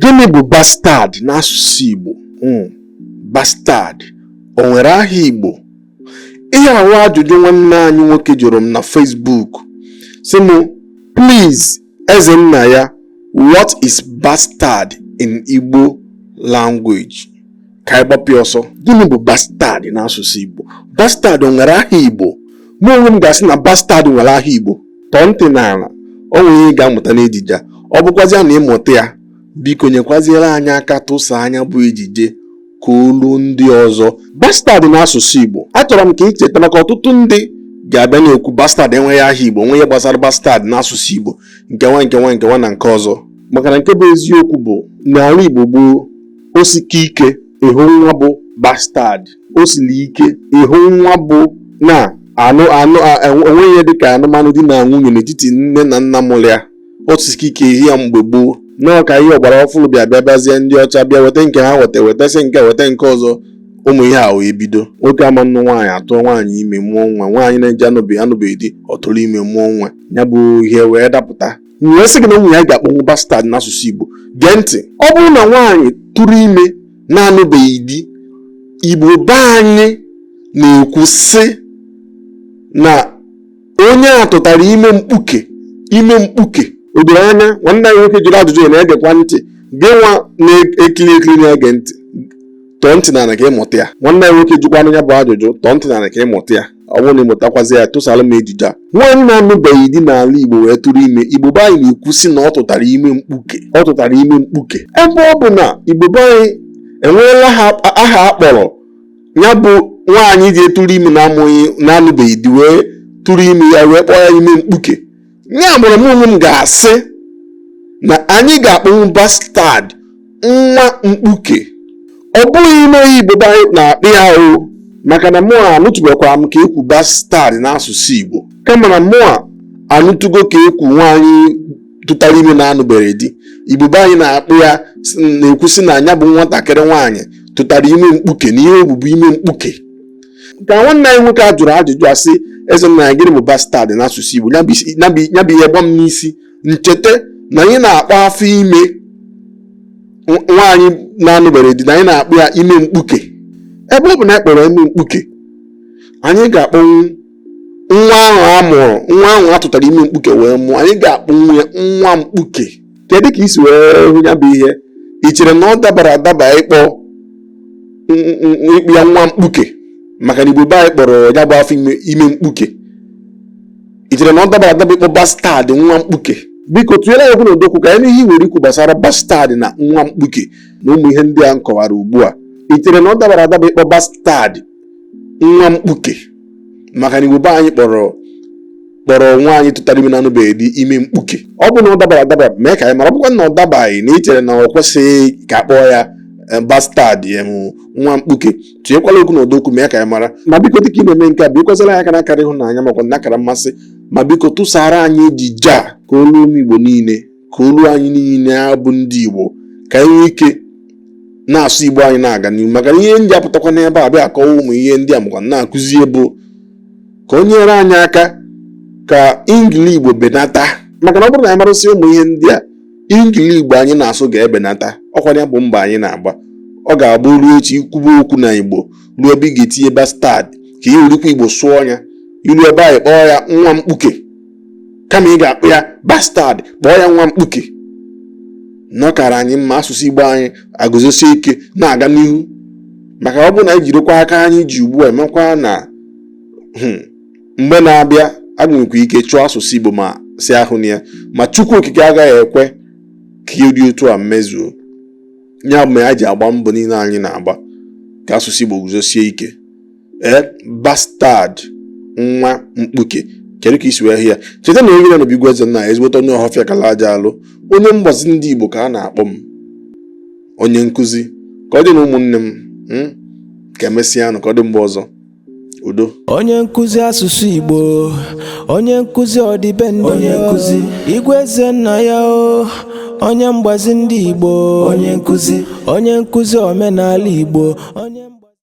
Gịnị bụ bastard n'asụsụ Igbo? Hmm, bastard o nwere aha Igbo? Ihe a bụ ajụjụ nwanne anyị nwoke jụrụ m na Facebook sị m please Ezennaya what is bastard in Igbo language? ka anyị gbapụ ya ọsọ gịnị bụ bastard n'asụsụ Igbo bastard nwere aha Igbo mụ onwe m ga-asị na bastard nwere aha Igbo tọọ ntị n'ala ọ nwere ihe ị ga-amụta n'ejije ọ bụkwazịa na ị mụta ya biko nyekwaziere anyị aka tụsaa nya bụ ejije ka o ruo ndị ọzọ bastard n'asụsụ Igbo achọrọ m ka ị cheta maka ọtụtụ ndị ga-abịa na-ekwu bastard enweghị aha Igbo o nweghị ihe gbasara bastard n'asụsụ Igbo nke nwa nke nwa nke nwa na nke ọzọ maka na nke bụ eziokwu bụ n'ala Igbo gboo o sika ike ịhụ nwa bụ bastard o siri ike ịhụ nwa bụ na anụ anụ enweghị ihe dịka anụmanụ di na nwunye n'etiti nne na nna mụrụ ya o sika ike ịhụ ya mgbe gboo nọọ ka ihe ọgbara ọfụrụ bịa bịa bịazie ndị ọcha bịa weta nke ha weta wetasị nke weta nke ọzọ ụmụ ihe a wee bido nwoke ama nnụ nwaanyị atụọ nwaanyị ime mụọ nwa nwaanyị na-eji anụbeghị anụbeghị di ọ tụrụ ime mụọ nwa ya bụ ihe wee dapụta m wee sị gị na o nwere ihe anyị ga-akpọnwu bastard n'asụsụ Igbo gee ntị ọ bụrụ na nwaanyị tụrụ ime na-anụbeghị di Igbo be anyị na-ekwu sị na onye a tụtara ime mkpuke ime mkpuke o doro anya nwanne anyị nwoke jụrụ ajụjụ ya na-egekwa ntị gị nwa na-ekiri ekiri na-ege ntị tọọ ntị n'ala ka ị mụta ya nwanne anyị nwoke jụkwara nya bụ ajụjụ tọọ ntị n'ala ka ị mụta ya ọ bụrụ na ị mụtakwazi ya tụsara m ejije a nwaanyị na-anụbeghị di n'ala Igbo wee tụrụ ime Igbo be anyị na-ekwu sị na ọ tụtara ime mkpuke ọ tụtara ime mkpuke ebe ọ bụ na Igbo be anyị enweela aha a kpọrọ ya bụ nwaanyị ji etụrụ ime na-amụghị na-anụbeghị di wee tụrụ ime ya wee kpọọ ya ime mkpuke ya bụrụ m onwe m ga-asị na anyị ga-akpọnwu bastard nwa mkpuke ọ bụghị ime ihe Igbo be anyị na-akpọ ya o maka na mụa anụtụbekwara m ka ekwu bastard n'asụsụ Igbo kama na mụa anụtụgo ka ekwu nwaanyị tụtara ime na-anụbere di Igbo be anyị na-akpọ ya na-ekwu sị na nya bụ nwatakịrị nwaanyị tụtara ime mkpuke na ihe o bu bụ ime mkpuke ka nwanne anyị nwoke a jụrụ ajụjụ a sị Ezennaya gịnị bụ bastard n'asụsụ Igbo ya bụ isi- ya bụ- ya bụ ihe gba m n'isi m cheta na anyị na-akpọ afọ ime nw- nwaanyị na-anụbere di na anyị na-akpọ ya ime mkpuke ebe ọ bụ na anyị kpọrọ ime mkpuke anyị ga-akpọnwu nwa ahụ a mụrụ nwa ahụ a tụtara ime mkpuke wee mụọ anyị ga-akpọnwu ya nwa mkpuke kedu ka i si wee hụ ya bụ ihe ị chere na ọ dabara adaba ịkpọ ịkpọ ya nwa mkpuke maka na igbo be anyị kpọrọ ya bụ afọ ime mkpuke ị chere na ọ dabara adaba ịkpọ bastard nwa mkpuke biko tụnyere ya okwu na ọdọ okwu ka anyị nụ ihe i nwere ikwu gbasara bastard na nwa mkpuke na ụmụ ihe ndị a m kọwara ugbu a ị chere na ọ dabara adaba ịkpọ bastard nwa mkpuke maka na igbo be anyị kpọrọ kpọrọ nwaanyị tụtara ime na-anụbeghị di ime mkpuke ọ bụ na ọ dabara adaba mee ka anyị mara ọ bụkwa na ọ dabaghị na i chere na ọ kwesịghị ka a kpọọ ya eh, bastard em nwa mkpuke tinyekwala okwu na ọdọ okwu mee ka anyị mara ma biko dịka ị na-eme nke a bikwasara anyị aka na akara ịhụnanya makwa na akara mmasị ma biko tụsara anyị ejije a ka o luo ụmụ igbo niile ka o luo anyị niile ya bụ ndị Igbo ka anyị nwee ike na-asụ Igbo anyị na-aga n'ihu maka na ihe m ji apụtakwa n'ebe a bịa akọwa ụmụ ihe ndị a makwa na-akụzi ya bụ ka o nyere anyị aka ka ingili Igbo benata maka na ọ bụrụ na anyị marasịa ụmụ ihe ndị a ingili Igbo anyị na-asụ ga-ebenata ọkwa ya bụ mbọ anyị na-agba ọ ga-abụ ruo echi i kwube okwu na Igbo ruo ebe ị ga-etinye bastard ka ị werikwa Igbo sụọ ya i ruo ebe ahụ ị kpọọ ya nwa mkpuke kama ị ga-akpọ ya bastard kpọọ ya nwa mkpuke na ọ kaara anyị mma asụsụ igbo anyị eguzosie ike na-aga n'ihu maka ọ bụrụ na anyị jirikwa aka anyị ji ugbu a emekwa na hmm, mgbe na-abịa a ga-enwekwa ike chọọ asụsụ igbo ma si ahụ ya ma chukwu okike agaghị ekwe ka ihe dị otu a mezuo ya bụ ihe e ji agba mbọ niile anyị na-agba ka asụsụ igbo guzosie ike ee eh, bastard nwa mkpuke kedu ka i si wee hụ ya cheta na anyị nọ na be igwe eze nna ya ezigbote onye ọhọfịa kala aja alụ onye mgbazi ndị igbo ka a na-akpọ m onye nkụzi ka ọ dị nụ ụmụnne m hmm, ka e mesịa nụ ka ọ dị mgbe ọzọ udo onye nkụzi asụsụ igbo onye nkụzi ọdịbendị onye nkụzi igwe eze nna ya o onye mgbazi ndị igbo onye nkụzi onye nkụzi omenala igbo onye